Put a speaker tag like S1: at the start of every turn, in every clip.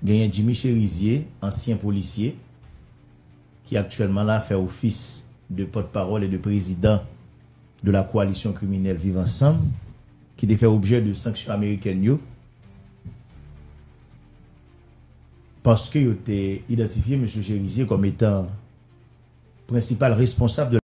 S1: Genyen Jimmy Cherizier, ansyen polisye, ki aktyèlman la fè ofis de pòt pawòl e de prezidan de la koalisyon kriminèl Viv Ansanm, ki te fè objè de sanksyon amerikèn yo, paske yo te idantifye Mesye Cherizier kòm etan prensipal responsab de.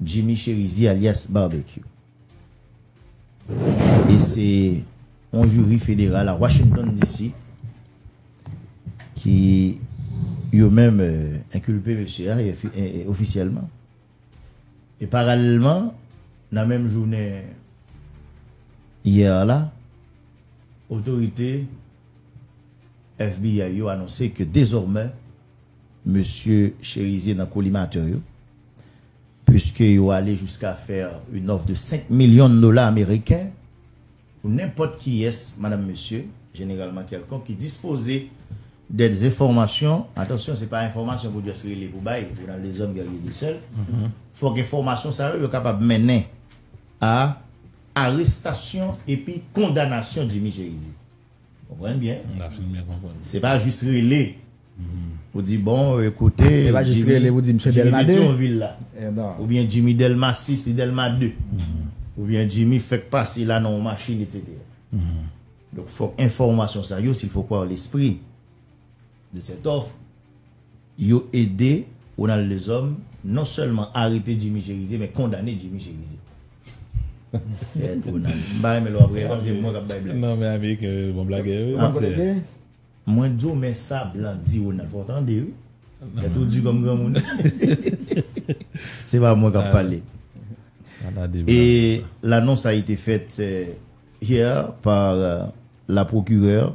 S1: Jimmy Cherizier alyas Barbecue e se yon jiri federal a Washington DC ki yo menm enkilpe mesye a ofisyèlman. E paralèlman, nan menm jounen yè a la, otorite FBI yo anonse ke dezòmè, Mesye Cherizier nan kolimatè yo, puiske yo ale jiska fè yn òf de 5 milyon dola ameriken pou nenpòt kiyès, madanm mesye, jeneralman kèlkonk, ki dispoze dè enfòmasyon, atansyon se pa enfòmasyon pou just rele pou bay, ou nan dezòm gèrye di sèl, fòk enfòmasyon sa yo yo kapab mennen a arestasyon epi kondanasyon Jimmy Cherizier. Konprann byen. La fin byen konprann. Se pa jis rele pou di bon ekoute. Se pa jis rele pou di msye
S2: Delma 2. Oubyen
S1: Jimmy Delma 6 li Delma 2. Oubyen Jimmy fèk pase la nan yon machin etc. Donk fòk enfòmasyon sa yo sil fò kwa lespri. de cette offre, yo ede Ronald Lezòm non sèlman arete Jimmy Cherizier men kondane Jimmy Cherizier. Fèt Ronald. M pa renmen lè w ap
S3: rire kòm se mwen k ap bay blag. Non men ameriken yo bon blagè wi monsè.
S1: Mwen di w men sa blan di Ronald fò w tande wi. Tèt ou di kòm granmoun. Se pa mwen k ap pale. Et l'annonce a été faite hier par la procureure.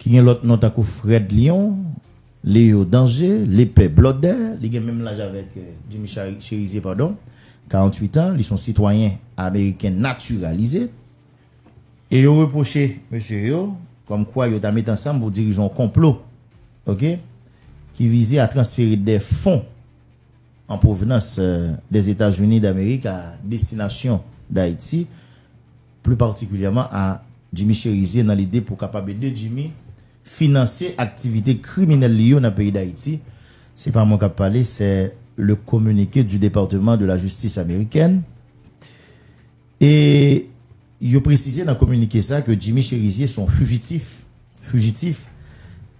S1: ki gen lòt non tankou Frèd Lyon, Leyó Danje, Lepè Blòdè, li gen menm laj avèk Jimmy Chérizier padon, 48 an, li son sitwayen ameriken natiralize, e yo repwoche mesye yo kòm kwa yo ta met ansanm pou dirije yon konplo ok ki vize a transfere dè fon an pwovnans dè Etazini Damerik a destinasyon Dayiti. pli patikilyèman a Jimmy Cherizier nan lide pou kapab ede Jimmy finanse aktivite kriminèl li yo nan peyi Dayiti, se pa mwen kap pale sè le communiqué du Département de la Justice Américaine e yo presize nan kominike sa ke Jimmy Cherizier son fujitif, fujitif,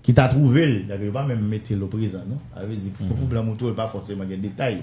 S1: ki ta twouve l, dake yo pa menm mete l oprezan non, sa vle di pou blan m ou twouve l pa fòseman gen detay.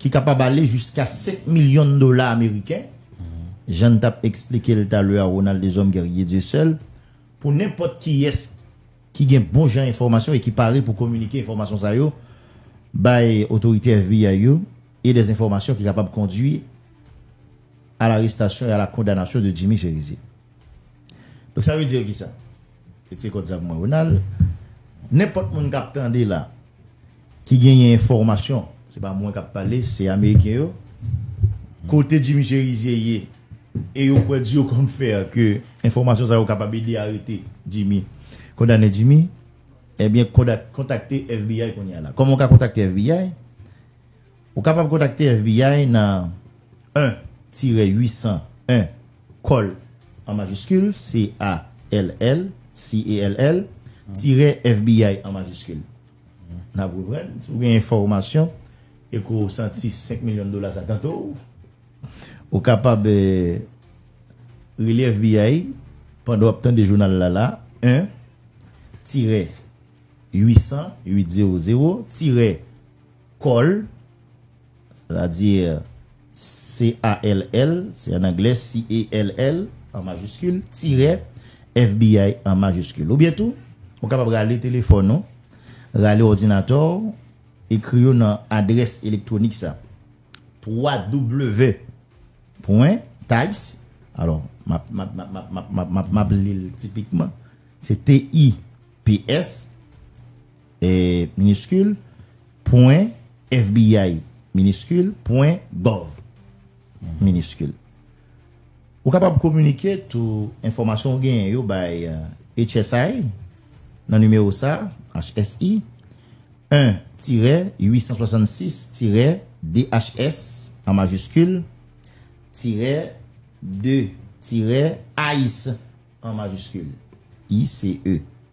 S1: ki kapab ale jiska 5 milyon dola ameriken, jan n t ap esplike l talè a Ronald Deshommes Guerrier Dieuseul, pou nenpòt kiyès ki gen bon jan enfòmasyon e ki pare pou kominike enfòmasyon sa yo bay otorite FBI yo e des enfòmasyon ki kapab kondwi a larestasyon e a la kondanasyon de Jimmy Cherizier. Donk sa vle di ki sa? Retire kòd sa pou mwen Ronald. Nenpòt moun k ap tande la. Ki genyen enfòmasyon, se pa mwen kap pale, se ameriken yo. Kote Jimmy Cherizier ye e yo kwè di yo konn fè ke enfòmasyon sa yo kapab ede arete Jimmy, kondane Jimmy, ebyen kontakte FBI kounye a la. Kòman ou ka kontakte FBI? Ou kapab kontakte FBI nan 1 tirè 800 1 call an majiskil, C-A-L-L, C-A-L-L, tirè FBI an majiskil. N ap reprann, si w gen enfòmasyon e ke w santi 5 milyon dola sa tante w, ou kapab rele FBI pandan w ap tande jounal la la, 1 tirè 800 800 tirè call. Sètadi-r, C-A-L-L, se an anglè, C-A-L-L, an majiskil, tirè, FBI, an majiskil. Ou byen tou, ou kapab rale telefòn ou, rale òdinatè ou, ekri yo nan adrès elektwonik sa, www. Pwen, types, alò, map, map, map, map, map, map, map, map li l tipikman, se T-I-P-S. miniskil, pwen, fbi, miniskil, pwen, gov, miniskil. Ou kapab kominike tou enfòmasyon ou genyen yo bay HSI nan nimewo sa a, HSI, 1 tirè 866 tirè DHS an majiskil tirè 2 tirè ice an majiskil, ICE.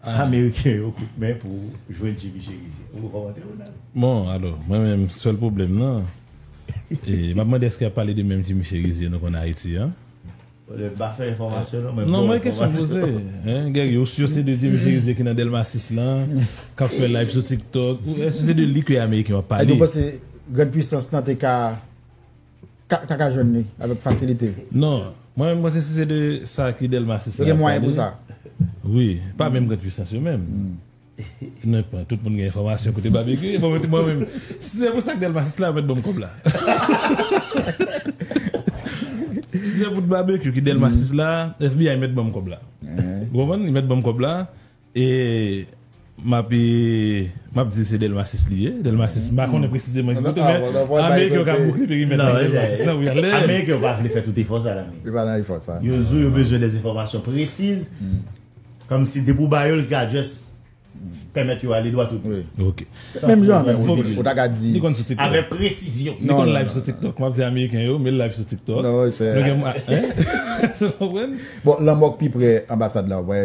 S1: Ameriken yo kout men pou jwenn Jimmy Cherizier. Ou kòmante Ronald? Bon alò,
S3: mwen menm sèl pwoblèm nan, e m ap mande èske y ap pale de menm Jimmy Cherizier nou konn Ayiti an? M pa
S1: fè enfòmasyon non, men m ba w enfòmasyon. Non mwen kesyon m
S3: poze, Guerrier, ou sur se de Jimmy Cherizier ki nan Delma 6 lan, k ap fè live sou TikTok, èske se de li ke Ameriken yo ap pale? Èske w panse
S2: grand puissance lan te ka. ta ka jwenn li avèk fasilite. Non, mwen menm
S3: panse si se de sa ki Delmas 6 la. Yo gen mwayen pou sa.
S2: Wi, pa
S3: menm grand puissance yo menm. Nan pwen, tout moun gen enfòmasyon kote Babecue ye, bon mwen menm, si se pou sak Delmas 6 la yo mèt ban m kòb la. Si se pou Babecue ki Delmas 6 la, FBI mèt ban m kòb la. Ou konprann? Yo mèt ban m kòb la. E map e map di se delmasis li ye delmasis m pa konnen presizeman ki kote men ameriken yo ka boukle perimèt la delmasis nan wi anlè ameriken
S1: yo pa vle fè tout efò sa la yo pa nan efò sa yo
S2: di w yo bezwen des
S1: enfòmasyon presiz kòmsi depi w ba yo l ki ka just pèmèt yo ale dwa tout ok san
S3: twò pratike
S2: ou ta ka di avèk presizyon
S1: li konn live sou tiktok
S3: map di ameriken yo met l live sou tiktok nou gen
S2: bon lanmò k pi prè anbasad la w wè.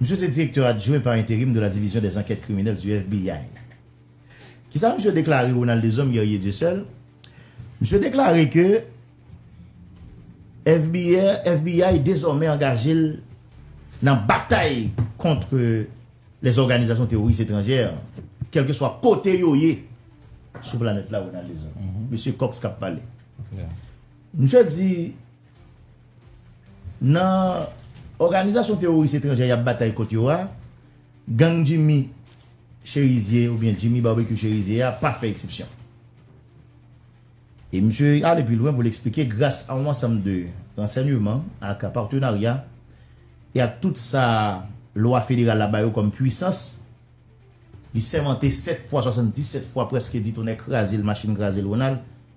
S1: Misye se direktè adjwen pa enterim de la Division des Enquêtes Criminelles du FBI. Kisa misye deklare Ronald Deshommes Guerrier Dieuseul? Misye deklare ke FBI dezòmè angaje l nan batay kontre les organisations terroristes étrangères kelke swa kote yo ye sou planèt la Ronald Deshommes. Mesye Cox kap pale. Misye di. Nan òganizasyon teworis etranjè y ap batay kont yo a, gang Jimmy Cherizier oubyen Jimmy Barbecue Cherizier a pa fè eksepsyon. E misye ale pi lwen pou l eksplike gras a yon ansanm de ransènyeman ak patenarya e ak tout sa lwa federal la ba yo kòm pwisans, li sèmante 7 fwa, 77 fwa, prèske di tonè kraze l machin kraze l Ronald,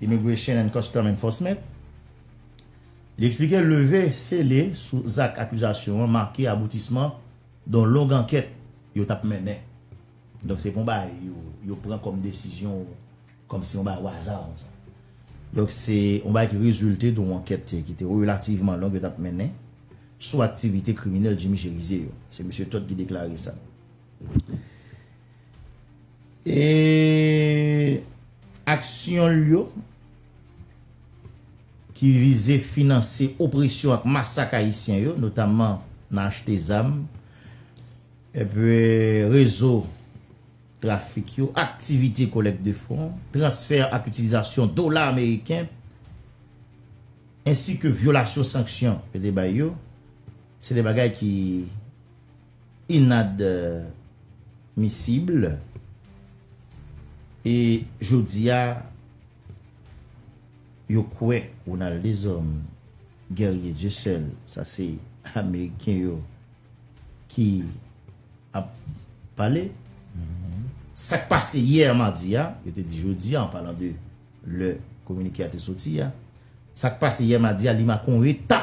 S1: Immigration and Custom Enforcement, li eksplike leve sele sou zak akizasyon an make aboutisman don long ankèt yo tap mennen. Donk se pa yon bagay yo pran kòm desizyon kòm si yon bagay waza konsa. Donk se yon bagay ki rezilte don ankèt ki te relativman long yo tap mennen sou aktivite kriminèl Jimmy Cherizier yo. Se Mesye Todd ki deklare sa. E aksyon l yo ki vize finanse opresyon ak masak Ayisyen yo, notamman nan achte zam, epi rezo trafik yo, aktivite kolèk de fon, transfè ak itilizasyon dola ameriken, ensi ke vyolasyon sanksyon yo te bay yo, se de bagay ki. inadmissible e jodia yo kwè Ronald Deshommes Guerrier Dieu seul sa se ameriken yo ki ap pale sak pase yè madi a yo te di jodi an palan de lè kominike a te soti a sak pase yè madi a li make yon eta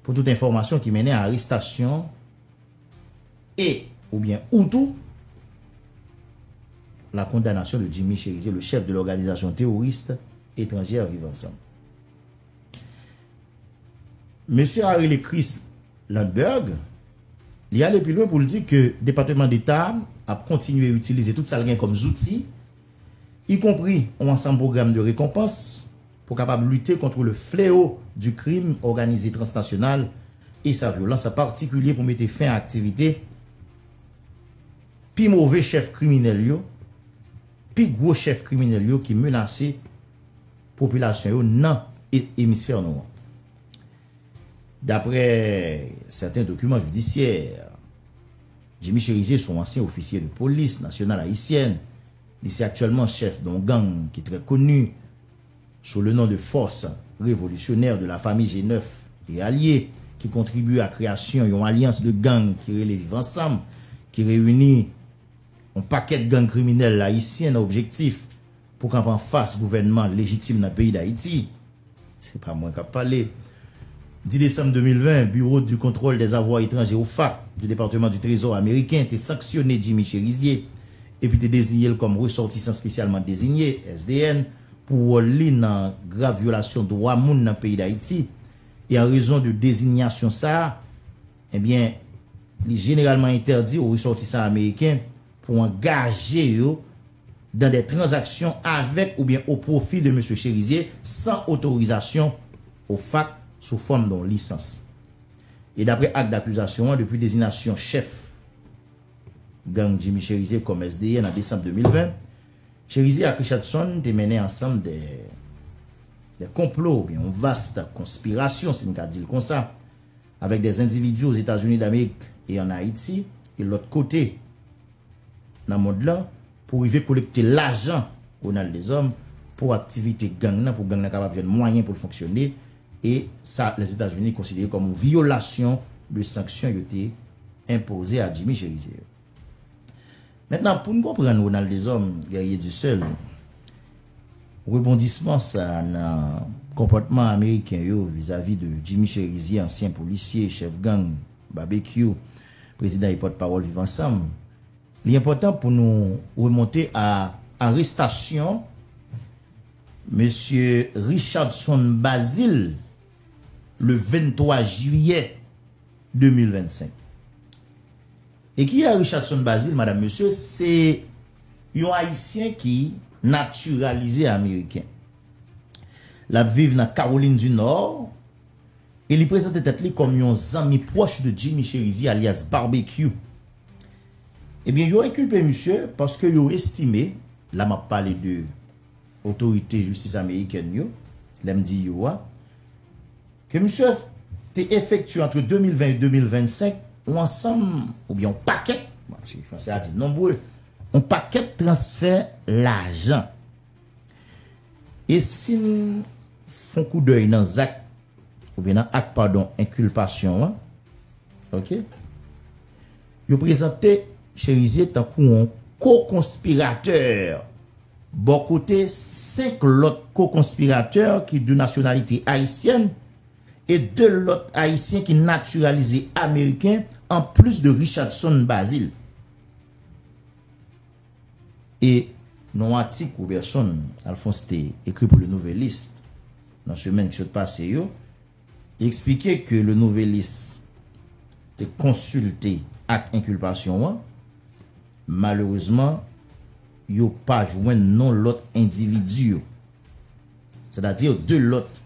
S1: Pou tout enfòmasyon ki mennen a arestasyon e oubyen ou tou la kondanasyon de Jimmy Cherizier, le chef de l'organisation terroriste étrangère Viv Ansanm. Mesye a rele Chris Lundberg, li ale pi lwen pou l di ke Depateman Deta ap kontinye itilize tout sa l gen kòm zouti, ikonpri yon ansanm pwogram de rekonpans, Pou kapab lite kontre le fleo di krim òganize transnasyonal e sa vyolans an patikilye pou mete fen a aktivite pi move chèf kriminèl yo, pi gwo chèf kriminèl yo ki menase popilasyon yo nan emisfè nou an. Daprè sèten dokiman jidisyè, Jimmy Cherizier son ansyen ofisye de polis nasyonal ayisyèn, Li se aktyèlman chèf don gang ki trè koni sou le non de Force Révolutionnaire de la Famille G9 et Alliés ki kontribye a kreyasyon yon alyans de gang ki rele Viv Ansanm ki reyini yon pakèt gang kriminèl ayisyen nan objektif pou kanpe anfas gouvènman lejitim nan peyi Dayiti. Se pa mwen kap pale. 10 desanm 2020, Bureau du Contrôle des Avoirs Étrangers, OFAC, du Departement du Trésor ameriken te sanksyone Jimmy Chérizier epi te deziye l kòm Ressortissant Spécialement Désigné, SDN, pou wòl li nan grav vyolasyon dwa moun nan peyi Dayiti. E an rezon de dezinyasyon sa a, ebyen, li jeneralman entèdi o resòtisan ameriken, pou angaje yo dan dè tranzaksyon avèk oubyen o pwofi de Mesye Chérizier san otorizasyon OFAC sou fòm don lisans. E dapre ak dakizasyon an, depi dezinasyon chèf gang Jimmy Chérizier kòm SDN an desanm 2020, Chérizier ak Richardson te mennen ansanm dè dè konplo oubyen yon vast konspirasyon, si n ka di l konsa, avèk dè zendividi o Zetazini Damerik e an Ayiti e lòt kote nan mond lan pou rive kolekte lajan Ronald Deshommes pou aktivite gang nan pou gang nan kapab jwenn mwayen pou l fonksyone e sa Lèzetazini konsidere kòm yon vyolasyon de sanksyon yo te enpoze a Jimmy Cherizier yo. Mentnan pou n konprann Ronald Deshommes, Guerrier du Seul, rebondisman sa nan konpòtman ameriken yo vizavi de Jimmy Cherizier, ansyen polisye, chèf gang, Babekyou, prezidan e pòt pawòl Viv Ansanm, li enpòtan pou nou remonte a arestasyon mesye Richardson Bazile le 23 jiyè. 2025. E ki a Richardson Bazil madam mesye se yon ayisyen ki natiralize ameriken. Lap viv nan Kawolin di Nò e li prezante tèt li kòm yon zanmi pwòch de Jimmy Cherizier alyas Barbecue. Ebyen yo enkilpe misye paske yo estime, la map pale de otorite jistis amerikèn yo, lèm di yo a, ke misye te efektye antre 2020 e 2025, yon ansanm oubyen yon pakèt, si fransè a di nombre, yon pakèt transfè lajan. E si n fon koudèy nan zak, oubyen nan ak padon enkilpasyon an, ok, Yo prezante Cherizier tankou yon ko-konspiratè bò kote 5 lòt ko-konspiratè ki de nasyonalite ayisyèn e 2 lòt ayisyen ki natiralize ameriken an plis de Richardson Bazil e Nan atik Roberson Alphonse te ekri pou Le Nouvelliste nan semèn ki sot pase yo, Li eksplike ke Le Nouvelliste te konsilte ak enkilpasyon an. Malerezman, yo pa jwenn non lòt endividi yo, sètadi 2 lòt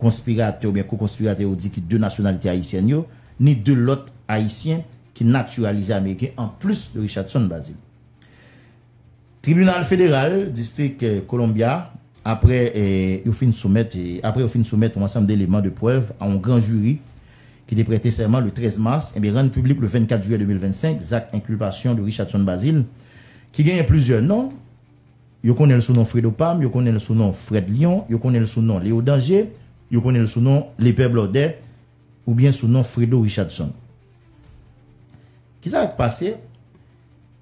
S1: konspiratè oubyen ko-konspiratè yo di ki de nasyonalite ayisyèn yo, ni 2 lòt Ayisyen ki natiralize ameriken anplis de Richardson Bazile. Tribinal Federal Distrik Columbia apre yo fin soumèt apre yo fin soumèt yon ansanm deleman de prèv a yon gran jiri ki te prète sèman le 13 mas enben rann piblik le 24 jiyè 2025 zak enkilpasyon de Richardson Bazile ki genyen plizyè non, yo konnen l sou non Fredo Pam, yo konnen l sou non Fred Lion, yo konnen l sou non Leo Danger, yo konnen l sou non Lepè Blòdè. oubyen sou non Fredo Richardson. Kisa k pase?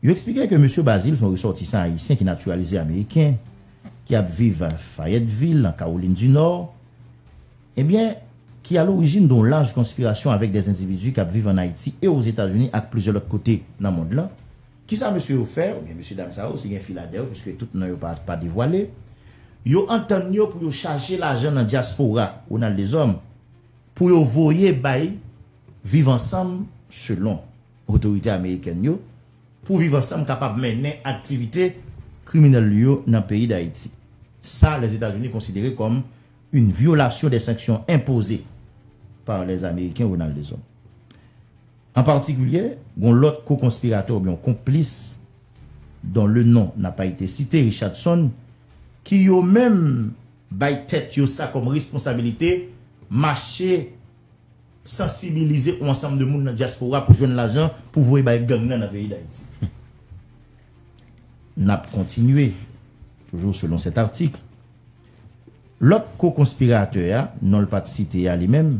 S1: Yo eksplike ke Mesye Bazil se yon resòtisan ayisyen ki natiralize ameriken, ki ap viv Fayetteville, nan Kawolin di Nò, ebyen, ki alorijin don laj konspirasyon avèk dè endividi k ap viv ann Ayiti e Ozetazini ak plizyè lòt kote nan mond lan. Kisa mesye yo fè, oubyen mesye dam sa yo, si gen fi ladan, piske tout non yo pa devwale, yo antann yo pou yo chaje lajan nan dyaspora, Ronald Deshommes, Pou yo voye bay Viv Ansanm selon otorite amerikèn yo, pou Viv Ansanm kapab mennen aktivite kriminèl li yo nan peyi Dayiti. Sa Lèzetazini konsidere kòm yn vyolasyon dè sanksyon enpoze par lè ameriken Ronald Deshommes. An patikilye, gon lòt ko-konspiratè oubyen yon konplis don le non n'a pas été cité Richardson ki yo menm Bay tèt yo sa kòm responsabilite, mache sansibilize on ansanm de moun nan dyaspora pou jwenn lajan pou voye bay gang nan nan peyi Dayiti. N ap kontinye, toujou selon sèt atik. Lòt ko-konspiratè a, non l pa t site a li menm,